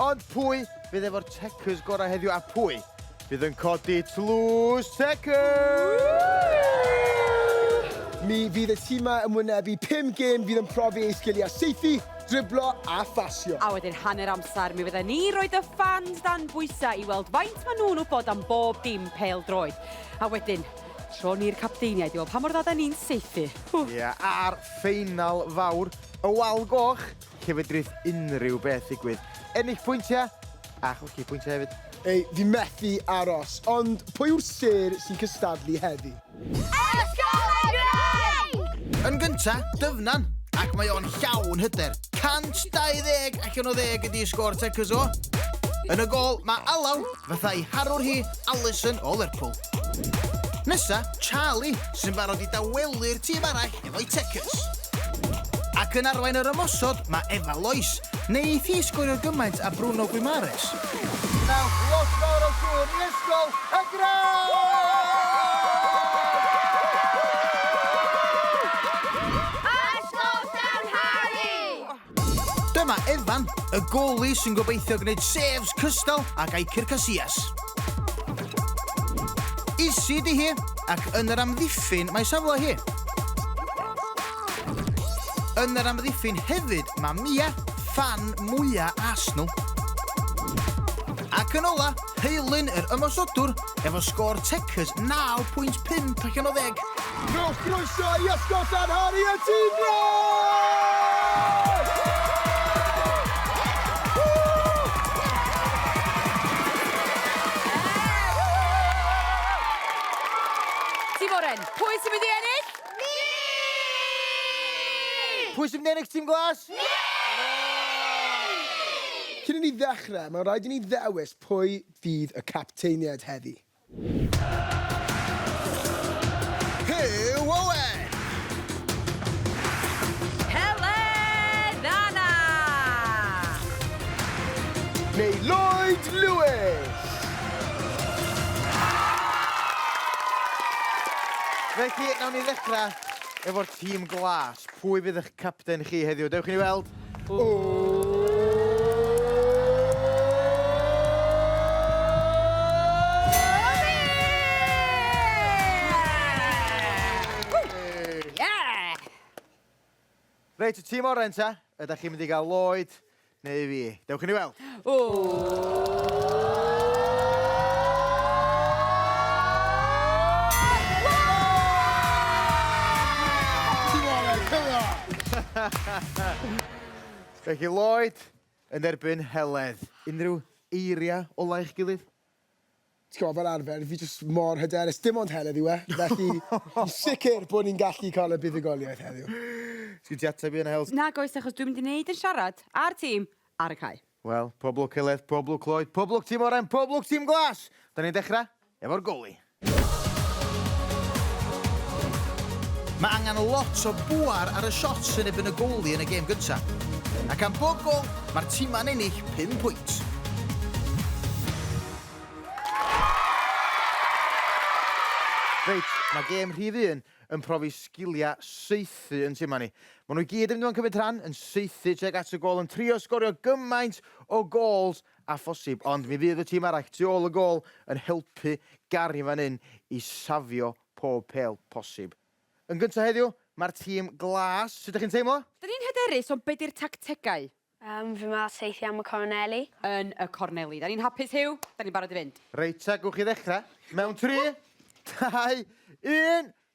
Ond pwy fydd efo'r Checkers gorau heddiw a pwy fydd yn codi tlws Checkers? Mi fydd y timau yn wynebu 5 gêm fydd yn profi ei sgiliau saethu, driblo a phasio. A wedyn hanner amser mi fydden ni roed y ffans dan bwysau i weld faint maen nhw'n wybod am bob dim pêl droed. A wedyn, tro ni'r capteiniaid i weld pa mor dda da ni'n saethu. Ia, a'r ffeinal fawr, y wal goch, lle fedrith unrhyw beth ddigwydd. Ennill pwyntiau a chwlci pwyntiau hefyd. Ei, fi methu aros. Ond pwy yw'r sêr sy'n cystadlu heddi? Ysgol y Graig! Yn gynta, Dyfnan, ac mae o'n llawn hyder. 120 allan o ddeg ydi sgôr Tecys o. Yn y gol, mae Alaw, fatha'i harwr hi, Alison o Lerpwl. Nesa, Charlie, sy'n barod i dawelu'r tîm arall efo'i tecys. Ac yn arwain yr ymosod, mae Eva Lois. Wneith hi sgorio gymaint a Bruno Guimares? Nawr, lot fawr o gŵr i ysgol y Grau! Dyma Evan, y goli sy'n gobeithio gwneud saves cystal ag Iker Casillas. Isi di hi, ac yn yr amddiffyn mae safle hi. Yn yr amddiffyn hefyd mae Mia, fan mwya Arsenal. Ac yn ola, Heilyn yr ymosodwr efo sgôr Tecas 9.5 allan o ddeg. Rhowch groeso i Esgob Llan Harri a Tŷ Brân! Tîm Oren, pwy sy'n mynd i ennill? Ni! Pwy sy'n mynd i ennill Tîm Glas? Ni! Cyn i ni ddechrau, mae'n rhaid i ni ddewis pwy fydd y capteiniaid heddi. Huw Owen! Helen Anna! Neu Lloyd Lewis! Felly, nawn ni ddechrau efo'r tîm glas. Pwy fydd eich Capten chi heddiw. Dewch i ni weld. Reit, y tîm oren ta, ydach chi'n mynd i gael lloyd? Neu fi. Dewch i ni weld. Ww! Felly Lloyd yn erbyn Heledd. Unrhyw eiriau ola eich gilydd? ti'n gwybod, fel arfer, fi jyst mor hyderus, dim ond heledd yw e, felly fi'n sicr bod ni'n gallu cael y buddugoliaeth heddiw. Sgin ti ateb i hynna, Hels? Nag oes, achos dwi'n mynd i wneud yn siarad â'r tîm ar y cae. Wel, pob lwc Heledd, pob lwc Lloyd, pob lwc tîm oren, pob lwc tîm glas! Da ni'n dechrau efo'r goli. Mae angen lot o bŵer ar y shots yn erbyn y goalie yn y gêm gyntaf. Ac am bob gôl, mae'r timau'n ennill pum pwynt. Reit, mae gêm rhif un yn profi sgiliau saethu yn timau ni. Maen nhw i gyd yn mynd i fod yn cymryd rhan, yn saethu tuag at y gôl, yn trio sgorio gymaint o gols â phosib, ond mi fydd y tîm arall tu ôl y gôl yn helpu Gary fan hyn i safio pob pêl posib. Yn gyntaf heddiw, mae'r tîm glas, sut ydych chi'n teimlo? Dyn ni'n hyderus, ond be di'r tactegau? Yym, fi 'ma saethu am y corneli. Yn y corneli. Da ni'n hapus, Huw, da ni'n barod i fynd. Reit ta, gewch chi ddechrau. Mewn tri, dau, un,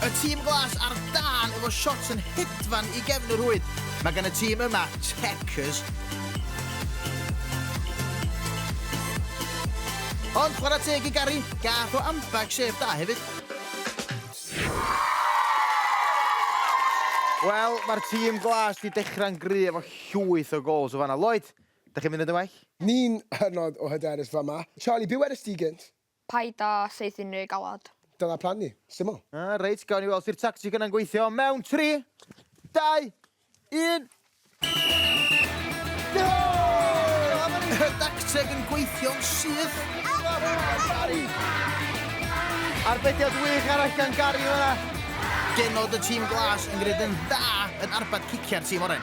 Y tîm glas ar dân efo shots yn hedfan i gefn y rhwyd. Mae gan y tîm yma Techers. Ond chwarae teg i Gary, gath o ambell sef da hefyd. Wel, mae'r tîm glas di dechrau'n gry efo llwyth o gols o fanna. Lloyd, da chi'n mynd yn dy well? Ni'n hynod o hyderus fama. Charlie, be wedest ti gynt? Paid a saethu unrhyw galwad. Dyna plan ni. Syml. Reit, gawn ni weld os ydy'r tactic yna'n gweithio mewn tri, dau, un. Mae'r dacteg yn gweithio'n syth! Arbediad wych arall gan Gary fan'na. Genod y tîm glas yn gwneud yn dda yn arbed ciciau'r tîm oren.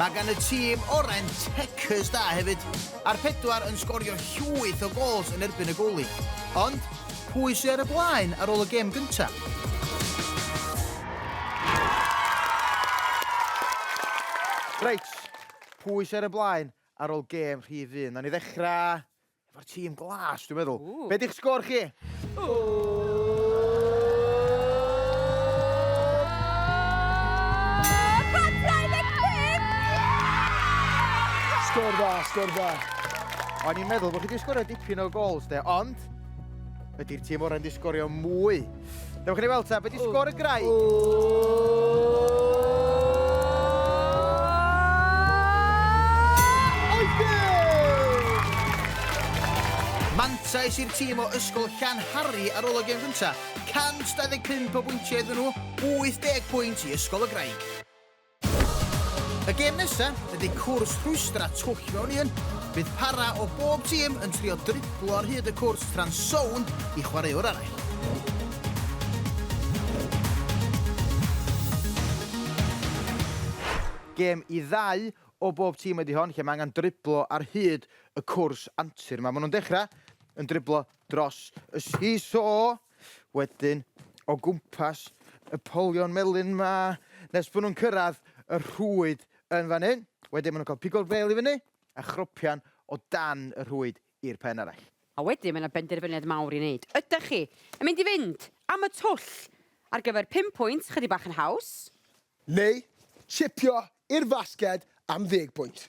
Mae gan y tîm orau'n tecers da hefyd, a'r pedwar yn sgorio llwyth o gols yn erbyn y goalie. Ond, pwy sydd ar y blaen ar ôl y gêm gyntaf? Reit, pwy sydd ar y blaen ar ôl gêm rhif un? Nawn ni ddechrau Efo'r tîm glas, dwi'n meddwl. Be di'ch sgôr chi? Sgôr dda, sgôr dda. O'n i'n meddwl bod chi wedi sgorio dipyn o gols de, ond Ydy'r tîm orau'n di sgorio mwy? Dewch i ni weld ta, beth di sgor y grau? Mantais i'r tîm o Ysgol Llan Harri ar ôl o gem gyntaf. 125 o bwyntiau iddyn nhw, 80 pwynt i Ysgol y Graig. Y gêm nesa ydy cwrs rhwystra twll mewn un. Bydd para o bob tîm yn trio driblo ar hyd y cwrs tra'n sownd i chwaraewr arall. Gêm i ddau o bob tîm ydy hon lle mae angen driblo ar hyd y cwrs antur 'ma. Maen nhw'n dechrau yn driblo dros y see-saw. wedyn o gwmpas y polion melyn 'ma nes bod nhw'n cyrraedd y rhwyd yn fan hyn. Wedyn maen nhw'n cael pigo'r bêl i fyny a chropian o dan y rhwyd i'r pen arall. A wedyn mae 'na benderfyniad mawr i wneud. Ydach chi yn mynd i fynd am y twll ar gyfer pum pwynt chydig bach yn haws? Neu chipio i'r fasged am ddeg pwynt?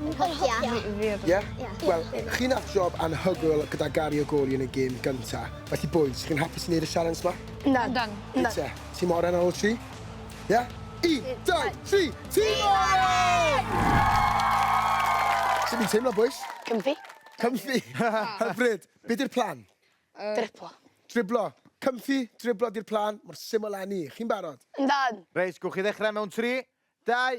Yn hogia. Ie? Wel, chi nath job anhygoel gyda gario goli yn y gêm gynta. Felly bois, chi'n hapus i neud y sialens 'ma? Na. Na. Na. Reit te, tîm oren ar ôl tri? Ie? Un, dau, tri, tîm oren! Sut fi'n teimlo bois? Comfy. Comfy? Hyfryd. Be' 'di'r plan? Driblo. Driblo. Comfy, driblo 'di'r plan, mor syml â 'ny. Chi'n barod? Yndan. Reit, gwn chi ddechre mewn tri, dau,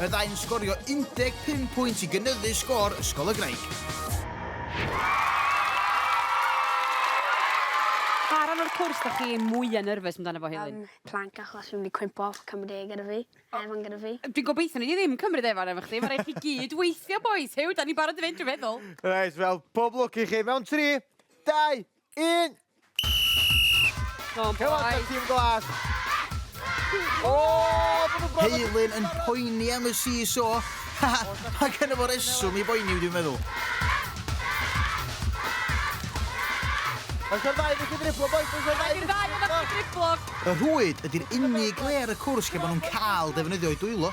y ddau yn sgorio 15 pwynt i gynyddu sgôr Ysgol y Graig. Pa ran o'r cwrs da chi mwya nerfus amdano fo Helin? Um, plank achos fi'n mynd cwympo off cymryd e gyda fi. Evan gyda fi. Dwi'n gobeithio ni ddim cymryd Evan efo chdi. Mae rhaid chi gyd weithio, boys. Hew, da ni barod i fynd, dwi'n meddwl. Reit, wel, pob lwc i chi. Mewn tri, dau, Un! Go on, Come on, boys. Team Glas. O, ma' nhw'n bron yn- Heilyn yn poeni am y seesaw. Mae gen fo reswm i boeni, dwi'n meddwl. Oes o'r ddau wedi driblo, boys? Oes o'r ddau wedi driblo? Driblo. Y rhwyd ydy'r unig le ar y cwrs lle maen nhw'n cael defnyddio'u dwylo.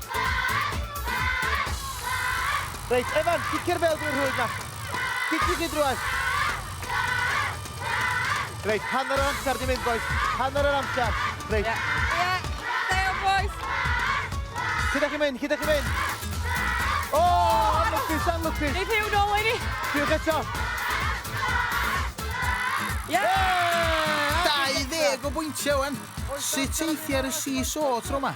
Reit, Evan, cicio'r bel drwy'r rhwyd na. Cicio chi drwy'r. Reit, hanner yr amser di mynd, boys. Hanner yr amser. Reit. Ie, yeah. yeah. boys. Cyd chi mynd, cyd chi mynd. O, oh, anlwcus, anlwcus. Nid hiw nôl i ni. Diolch eto. Ie! Yeah! 20 o bwyntiau, wen. Sut eithir y CSO tro yma?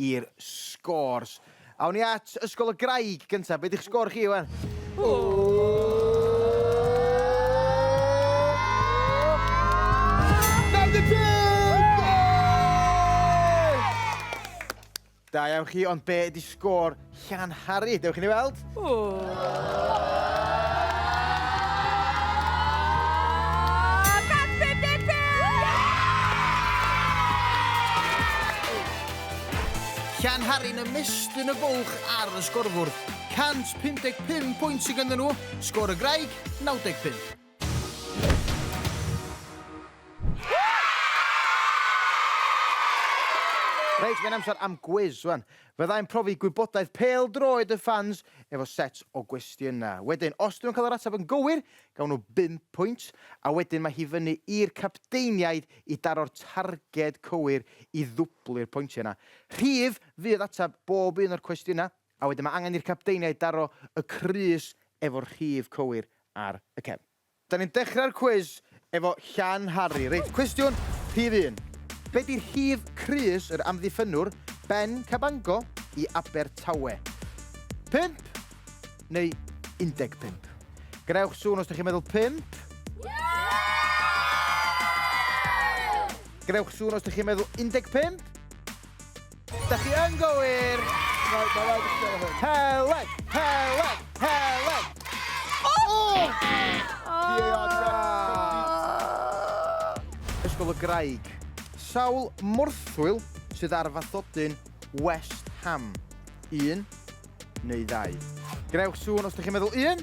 i'r scores. Awn ni at Ysgol y Graig gyntaf. Be di'ch sgôr chi, Iwan? Da iawn chi, ond be ydi sgôr Llan Harri, dewch i ni weld. Llan Harri'n ymestyn y bwlch ar y sgorfwr. 155 pwynt sydd gyda nhw, sgor y graig 95. Reit, mae'n amser am gwiz, wan. Fyddai'n profi gwybodaeth pêl-droed y ffans efo set o gwestiynau. Wedyn, os 'dyn nhw'n cael yr ateb yn gywir, gawn nhw bum pwynt, a wedyn mae hi fyny i'r capteiniaid i daro'r targed cywir i ddwblu'r pointiau 'na. Rhif fydd ateb bob un o'r cwestiynau, a wedyn mae angen i'r capteiniaid daro y crys efo'r rhif cywir ar y cefn. Da ni'n dechrau'r cwis efo Llan Harri. Reit, cwestiwn rhif un. Be di rhif crys yr amddiffynnwr Ben Cabango i Abertawe? Pump neu 15? Gwnewch sŵn os da chi'n meddwl pump. Gwnewch sŵn os da chi'n meddwl 15. Da chi yn gywir! Helen! Helen! Helen! Ysgol y Graig. Sawl morthwyl sydd ar fathodyn West Ham? Un, neu ddau. Gwnewch sŵn os ydych chi'n meddwl un.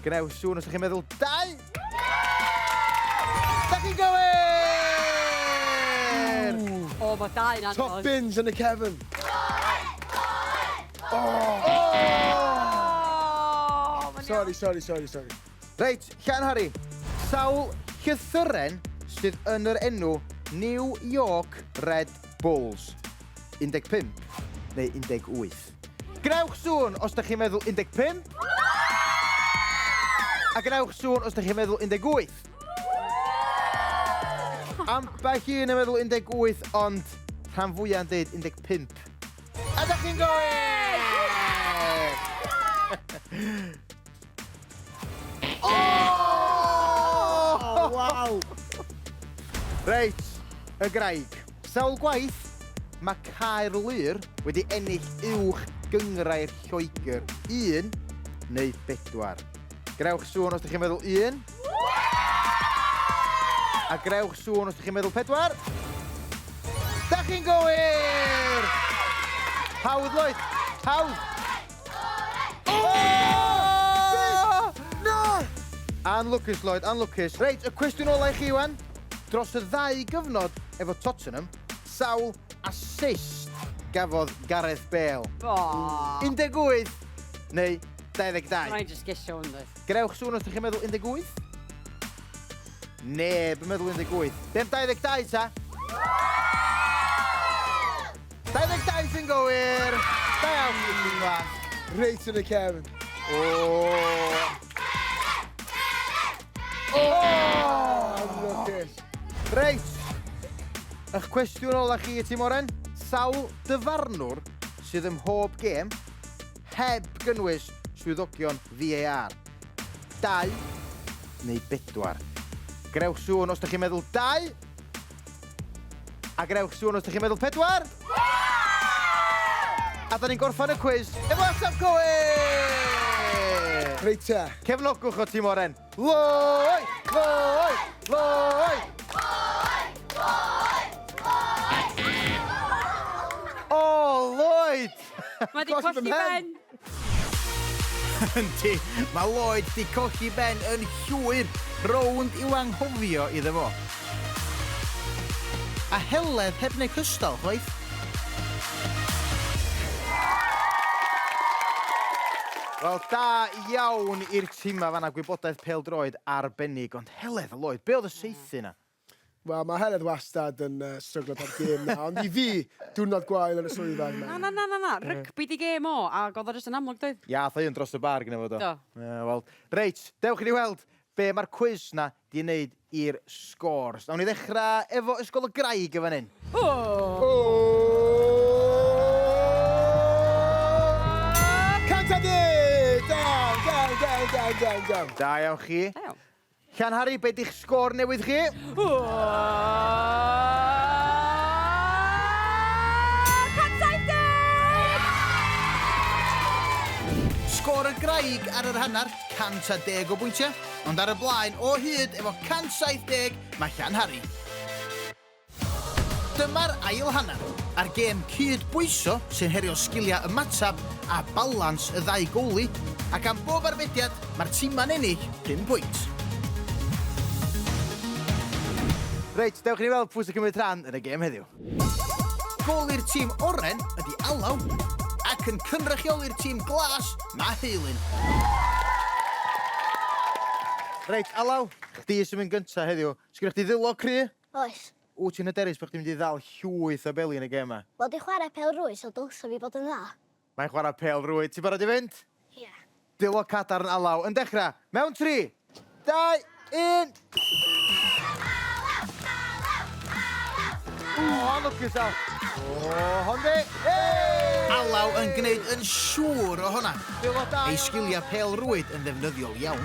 Gwnewch sŵn os ydych chi'n meddwl dau. Da chi'n gywir! O, mae dau yn anodd. Top bins yn y cefn. Oh! Sorry, sorry, sorry, sorry. Reit, Llan Harri, sawl llythyren sydd yn yr enw New York Red Bulls? 15 neu 18? Gwnewch sŵn os da chi'n meddwl 15. A gwnewch sŵn os da chi'n meddwl 18. Ambell un yn meddwl 18, ond rhan fwyaf yn dweud 15. A da chi'n gywir! O! O, waw! Reit, y graig. Sawl gwaith mae Caerlŷr wedi ennill uwch gyngrair Lloegr? Un neu bedwar? Grewch sŵn os ydych chi'n meddwl un. A grewch sŵn os ydych chi'n meddwl pedwar. Da chi'n gywir! Hawdd, Lloyd! Hawdd! Anlwcus, Lloyd, anlwcus. Reit, y cwestiwn ola i chi, Iwan. Dros y ddau gyfnod efo Tottenham, sawl assist gafodd Gareth Bale? O! 18 neu 22? Rhaid just gesio hwn, dweud. Grewch sŵn os ydych chi'n meddwl 18? Neb yn meddwl 18. Be am 22 ta? 22 sy'n gywir! Da iawn chi chi'n fan. Reit yn y cefn. Reit! Ych cwestiwn ola chi i ti, Moren? Sawl dyfarnwr sydd ym mhob gêm heb gynnwys swyddogion VAR? Dau neu bedwar? Grewch sŵn os da chi'n meddwl dau A gwnewch sŵn os ydych chi'n meddwl pedwar! A da ni'n gorffan y cwis efo ateb cywir! Reit te. Cefnogwch o Tîm Oren. Loi! Loi! Loi! O, Lloyd! Mae 'di colli ben! Yndi, mae Lloyd di colli ben yn llwyr, rownd i'w anghofio iddo fo. A Heledd heb wneud cystal, chwaith. Wel, da iawn i'r timau fanna, gwybodaeth pêl-droed arbennig, ond Heledd a Lloyd, be oedd y saethu 'na? Wel, mae Heledd wastad yn yy stryglo bob gêm 'na, ond i fi, diwrnod gwael yn y swyddfa yw Na, na, na, na, na. Rygbi 'di gêm o, ag o'dd o jyst yn amlwg doedd? Iath o un dros y bar gynno fo do? Do. Ie wel reit, dewch i ni weld be' ma'r cwis 'na 'di neud i'r scores. Nawn ni ddechra efo Ysgol y Graig yn fan 'yn. O! Cant a deg! Da iawn, da iawn, da iawn, da iawn, da iawn. Da iawn chi. Da iawn. Llan Harri, be di'ch sgôr newydd chi? Sgôr y graig ar yr hanner, 110 o bwyntiau, ond ar y blaen o hyd efo 170 mae Llan Harri. Dyma'r ail hanner, a'r gêm cyd-bwyso sy'n herio sgiliau ymateb a balans y ddau goalie, ac am bob arbediad, mae'r timau'n ennill pum pwynt. Reit, dewch i ni weld pwy sy'n cymryd rhan yn y gêm heddiw. Goalie'r tîm oren ydy Alaw, ac yn cynrychioli'r tîm glas, mae Heilyn. Reit, Alaw, chdi sy'n mynd gyntaf heddiw. Sgennych chdi ddwylo cry? Oes. Wyt ti'n hyderus bod chdi'n mynd i ddal llwyth o beli yn y gêm 'ma? Wel, dwi'n chwarae pêl-rwyd so dylsa fi fod yn dda. Mae'n chwarae pêl-rwyd. Ti'n barod i fynd? Ie. Dwylo cadarn alaw yn dechrau! Mewn tri! Dau! Un! O, lwcus Al! O, Honde! Hei! Alaw yn gwneud yn siŵr o hwnna! Dwylo da iawn Al! Ei sgiliau pêl-rwyd yn ddefnyddiol iawn.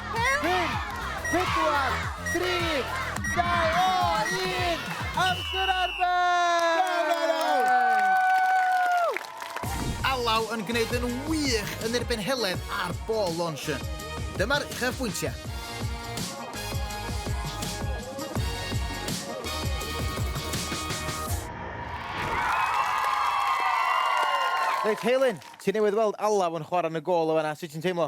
Alaw yn gwneud yn wych yn erbyn Heledd ar ball launcher. Dyma'r uchafbwyntiau. Reit Heilyn, ti newydd weld Alaw yn chwarae yn y gôl yn fan'na, sut ti'n teimlo?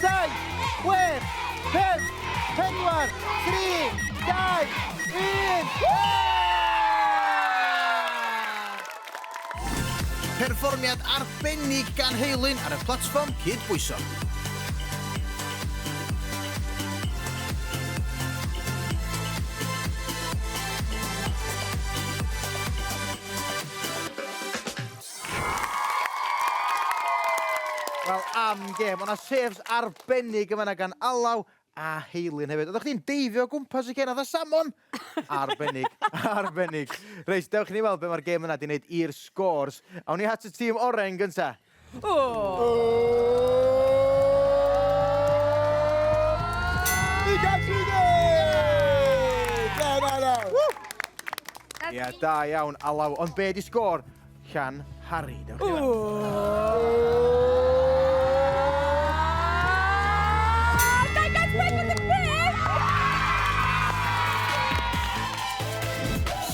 Saith, chwech, pump, pedwar, tri, dau, un! Perfformiad arbennig gan Heilyn ar y platfform cydbwyso. Wel, am gêm. O'na saves arbennig yn fanna gan Alaw a Heilyn hefyd. Oeddech chdi'n deifio o gwmpas y cen fatha salmon! Arbennig, arbennig. Reit, dewch i ni weld be' mae'r gêm yna 'di wneud i'r scores. Awn ni at y tîm oren yn gynta. Ia, da iawn, Alaw. Ond be' 'di sgôr? Llan Harry, dewch chi fan.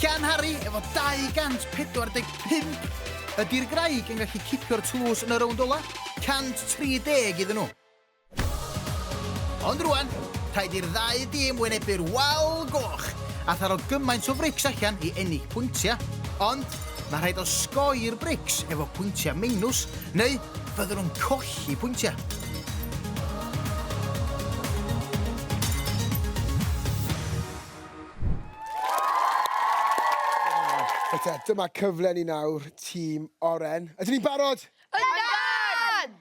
Llan Harry efo 245 ydy'r graig yn gallu cipio'r tlws yn y rownd ola, 130 iddyn nhw. Ond rwan, rhaid i'r ddau dîm wynebu'r wal goch a tharo gymaint o frics allan i ennill pwyntiau. Ond mae rhaid osgoi'r brics efo pwyntiau meinws neu fyddwn nhw'n colli pwyntiau. Reit te, dyma cyfle ni nawr, tîm Oren. Ydyn ni'n barod? Yndan!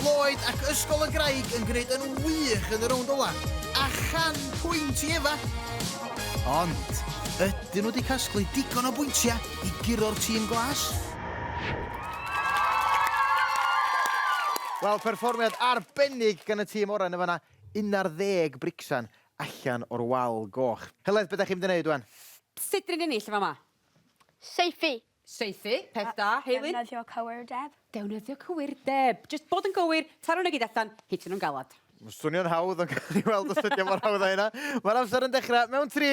Lloyd ac Ysgol y Graig yn gwneud yn wych yn y rownd ola. A chan pwynt i Efa. Ond, ydyn nhw wedi casglu digon o bwyntiau i guro'r tîm glas? Wel, perfformiad arbennig gan y tîm oren yn fanna. 11 bricsan allan o'r wal goch. Heledd, be da chi'n mynd i wneud wan? Sut dyn ni'n ennill yn fama? Saethu. Saethu, peth da. Heilyn? Defnyddio cywirdeb. Dewnyddio cywirdeb. Jyst bod yn gywir, taro nhw gyd allan, hitio nhw'n galad. Swnio'n hawdd, ond gawn ni weld os ydy o mor hawdd â hynna. Mae'r amser yn dechrau mewn tri.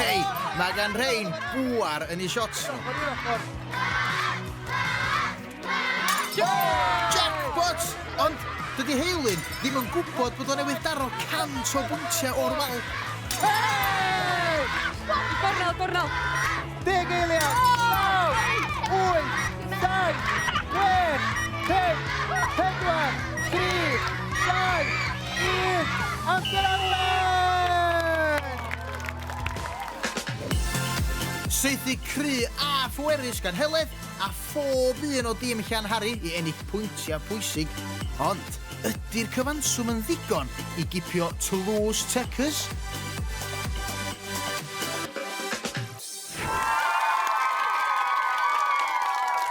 Hei, mae gan rhain bwar yn ei shots nhw. Jackpot! Ond dydy Heilyn ddim yn gwybod bod o'n newydd daro cant o bwyntiau o'r wal. Gornel, gornel! Deg eiliad! Naw! Wyth! Dau! Wech! Pum! Pedwar! Tri! Dau! Ydyw! Oscar Allen! Saethu cry a phwerus gan Heledd a phob un o dîm Llanhari i ennill pwyntiau pwysig. Ond, ydy'r cyfanswm yn ddigon i gipio Toulouse Techers?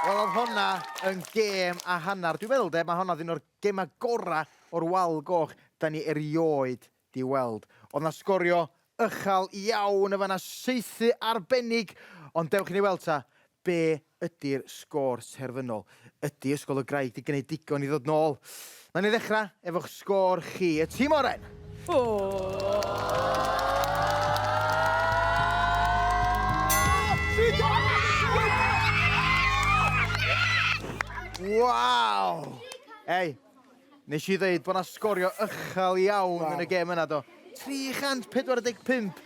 Wel, oedd honna yn gêm a hanner. Dwi'n meddwl de, mae honna'n un o'r Gema gora o'r wal goch da ni erioed di weld. Odd na sgorio ychal iawn yn fan 'na saethu arbennig ond dewch i ni weld ta be ydi'r sgôr terfynol. Ydi Ysgol y Graig di gneud digon i ddod nôl? Nawn ni ddechra efo'ch sgôr chi. Y tîm oren! Waw! Ei, nes i ddeud bod na sgorio ychel iawn yn y gêm yna do. 345.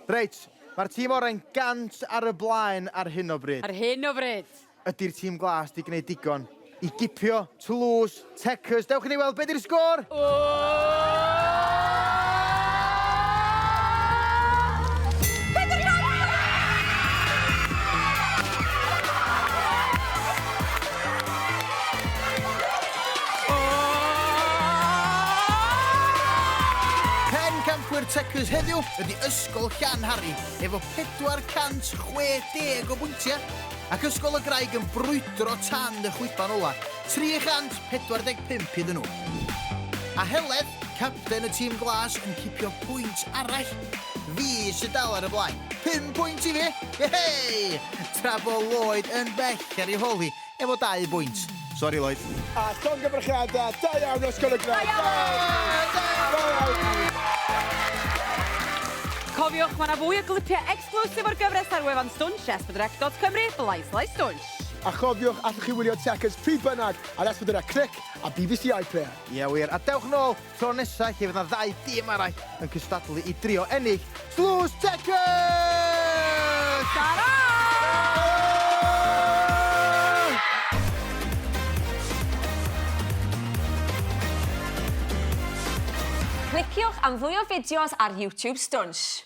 Reit, mae'r tîm oren gant ar y blaen ar hyn o bryd. Ar hyn o bryd. Ydy'r tîm glas 'di gwneud digon i gipio Toulouse? Checkers, dewch i ni weld be 'di'r sgôr! Pencampwyr Checkers heddiw ydi Ysgol Llanhari efo 460 o bwyntiau. Ac Ysgol y Graig yn brwydro tan y chwiban ola', 345 iddyn nhw. A Heledd, capten y tîm glas, yn cipio pwynt arall. Fi sy dal ar y blaen. Pum pwynt i fi! Yehey! Tra bo Lloyd yn bell ar ei hol hi efo dau bwynt. Sori Lloyd. A llongyfarchiada, da iawn Ysgol y Graig! Da iawn! Da iawn! Cofiwch, mae 'na fwy o glipiau Clywch efo'r gyfres ar wefan Stwnsh, S4C dot Cymru, Blaen Slaes Stwnsh. A chofiwch, allwch chi wylio Chequers pryd bynnag ar S4C ar Clic a bbc iPlayer. Ie wir, a dewch nôl tro nesa lle fydd 'na ddau dîm arall yn cystadlu i drio ennill dlws Chequers! Tara! Cliciwch am fwy o fideos ar YouTube Stwnsh.